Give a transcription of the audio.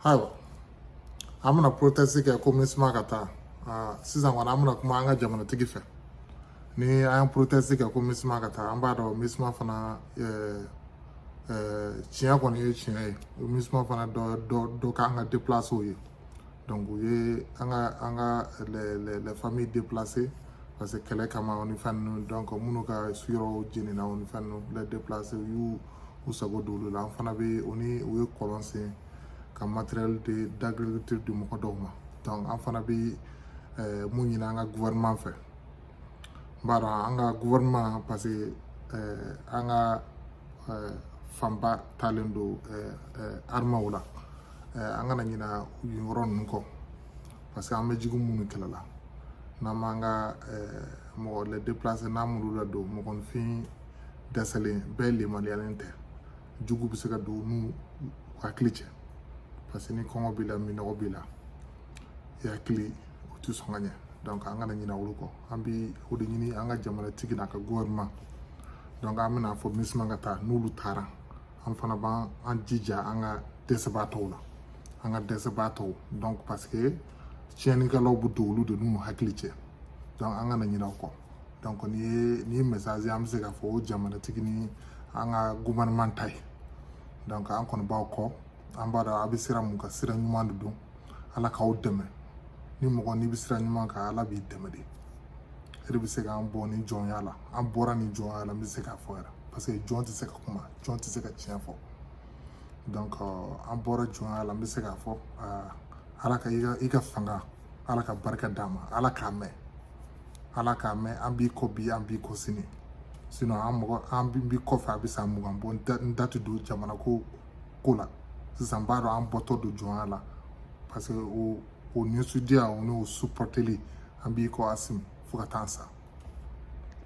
ayiwa an bɛna protɛsi kɛ ko minusma ka taa sisan kɔni an bɛna kuma an ka jamanatigi fɛ ni an ye protɛsi kɛ ko minusma ka taa an b'a dɔn minusma fana tiɲɛ kɔni ye tiɲɛ ye minusma fana dɔ k'an ka déplacéw ye donc u ye an ka an ka les familles déplacées parce que kɛlɛ kama o ni fɛn ninnu donc minnu ka yɔrɔw jenina o ni fɛn ninnu les déplacés u y'u k'u sago don olu la an fana bɛ o ni u ye kɔlɔn sen ka matériel d'agriculture di mɔgɔ dɔw ma an fana bɛ mun ɲini an ka gouvernement fɛ n b'a dɔn an ka gouvernement parce que an ka fanba taalen don armɛw la an kana ɲina yen yɔrɔ ninnu kɔ parce que an bɛ jugu minnu kɛlɛ la n'an m'an ka mɔgɔ les déplacés n'an m'olu ladon mɔgɔninfin dɛsɛlen bɛɛ lemaliyalen tɛ jugu bɛ se ka don n'u hakili cɛ parce que ni kɔngɔ b'i la minɔgɔ b'i la i hakili o tɛ sɔn ka ɲɛ donc an kana ɲina olu kɔ an bi o de ɲini an ka jamanatigi n'a ka gouvernement donc an bɛna fɔ minusma ka taa n'olu taara an fana b'an jija an ka dɛsɛbaatɔw la an ka dɛsɛbaatɔw donc parce que tiɲɛnikɛlaw bɛ don olu de n'u hakili cɛ donc an kana ɲina o kɔ donc nin ye message an bɛ se k'a fɔ o jamanatigi ni an ka gouvernement ta ye donc an kɔni b'aw kɔ an b'a dɔn a bɛ sira mun kan sira ɲuman de don ala k'aw dɛmɛ ni mɔgɔ n'i bɛ sira ɲuman kan ala b'i dɛmɛ de e de bɛ se k'an bɔ nin jɔnya la an bɔra nin jɔnya la n bɛ se k'a fɔ yɛrɛ parce que jɔn tɛ se ka kuma jɔn tɛ se ka tiɲɛ fɔ donc an bɔra jɔnya la n bɛ se k'a fɔ ala ka i ka i ka fanga ala ka barika d'a ma ala k'a mɛɛn ala k'a mɛɛn an b'i kɔ bi an b'i kɔ sini sinon an mɔgɔ an b'i kɔfɛ a bɛ san mugan bɔ n da tɛ don jamana ko ko la sisan n b'a dɔn an bɔtɔ don jɔnya la parce que o o nisɔndiya o n'o supɔteli an b'i kɔ asimi fo ka taa sa